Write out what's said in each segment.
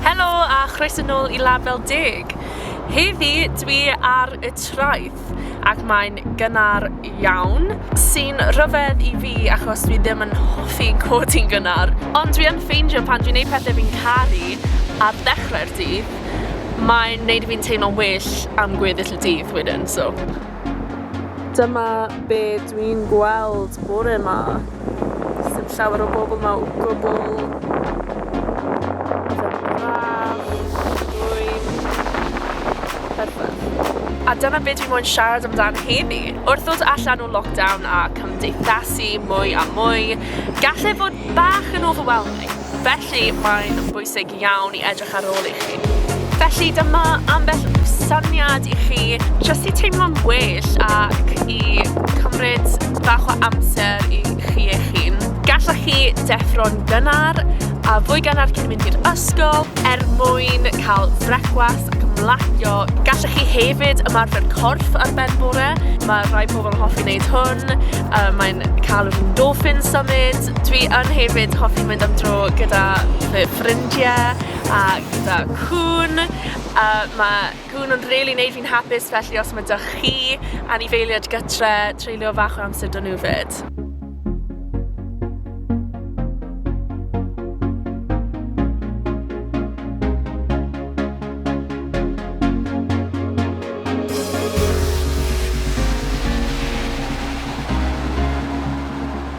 Helo a chroeso nôl i Label Deg. Heddi dwi ar y traeth ac mae'n gynnar iawn, sy'n rhyfedd i fi achos dwi ddim yn hoffi cod i'n gynnar. Ond dwi yn ffeindio pan dwi'n neud pethau fi'n caru ar ddechrau'r dydd, mae'n neud i fi'n teimlo'n well am gweddill y dydd wedyn, so. Dyma be dwi'n gweld bore 'ma. Does dim llawer o bobl 'ma o gwbwl. Ma'n braf, rwy'n perffeth. A dyna be dwi moyn siarad amdan heddi. Wrth ddod allan o lockdown a cymdeithasu mwy a mwy, gall e fod bach yn overwhelming, felly mae'n bwysig iawn i edrych ar ôl i chi. Felly dyma ambell syniad i chi jyst i teimlo'n well ac i cymryd bach o amser i chi eich hun. Gallwch chi deffro'n gynnar a fwy gynnar cyn mynd i'r ysgol er mwyn cael brecwast ac ymlacio. Gallwch chi hefyd ymarfer corff ar ben bore, mae rhai pobl yn hoffi wneud hwn, uh, mae'n cael yr endorphins symud, Dwi yn hefyd hoffi mynd am dro gyda fy ffrindiau a gyda cŵn. Mae cŵn yn rili neud fi'n hapus felly os mae 'da chi anifeiliaid gytre, treulio fach o amser 'da nhw 'fyd.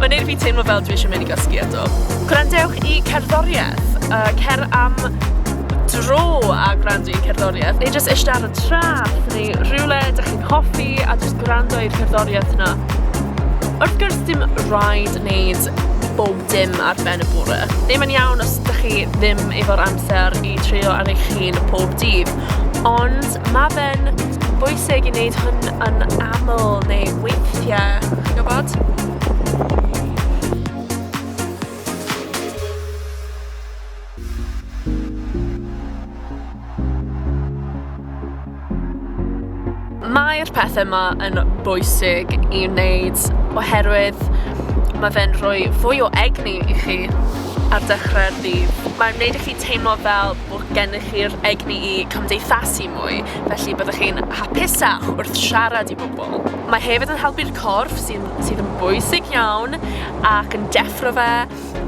Mae'n neud i fi teimlo fel dwi eisiau mynd i gysgu eto. Gwrandewch i cerddoriaeth, uh, cer am dro a gwrando i cerddoriaeth, neu jyst eistedd ar y traff, neu rhywle dych chi'n hoffi a jyst gwrando i'r cerddoriaeth yna. Wrth gwrs dim rhaid wneud bob dim ar ben y bore. Ddim yn iawn os ydych chi ddim efo'r amser i treulio ar eich hun pob dydd, ond Mae fe'n bwysig i wneud hwn yn aml neu weithiau, chi'n gwybod? Mae'r pethau yma yn bwysig i wneud oherwydd mae fe'n rhoi fwy o egni i chi ar dechrau'r dydd. Mae'n wneud i chi teimlo fel bod gennych chi'r egni i cymdeithasu mwy, felly byddwch chi'n hapusach wrth siarad i bobl. Mae hefyd yn helpu'r corff sy'n, sydd yn bwysig iawn ac yn deffro fe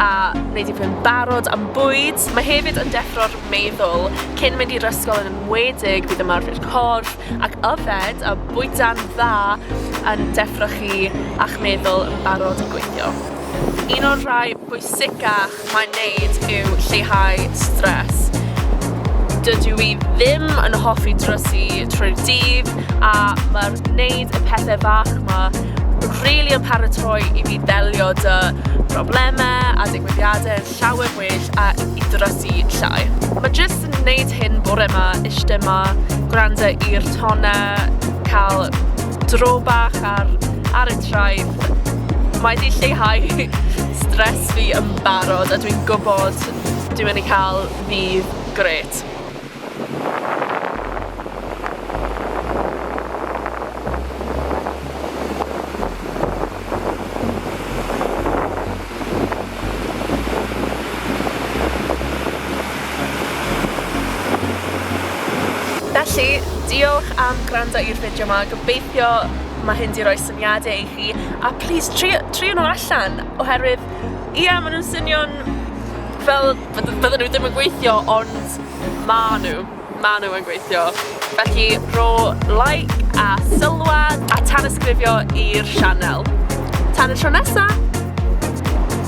a wneud i fi'n barod am bwyd. Mae hefyd yn deffro'r meddwl cyn mynd i'r ysgol yn ymwedig bydd ymarfer corff ac yfed a bwyta'n dda yn deffro chi a'ch meddwl yn barod i gweithio. Un o'r rhai bwysicach Mae'n neud yw lleihau stres. Dydw i ddim yn hoffi drysu trwy'r dydd a mae'r neud y pethau bach yma rili yn paratoi i fi delio dy broblemau a digwyddiadau yn llawer well a i ddrysu llai. Mae jyst yn neud hyn bore yma, eisiau yma, gwrando i'r tonau, cael dro bach ar, ar y traeth, Mae di lleihau stres fi yn barod a dwi'n gwybod dwi'n mynd i cael ddydd gret. Felly, diolch am gwrando i'r fideo ma, gobeithio mae hyn di roi Diolchiade i chi, a please tri, trio nhw allan, oherwydd, ia, maen nhw'n swnio'n fel, bydden nhw ddim yn gweithio, ond maen nhw, maen nhw yn gweithio. Felly, rho like a sylwad a tan ysgrifio i'r sianel. Tan y tro nesaf!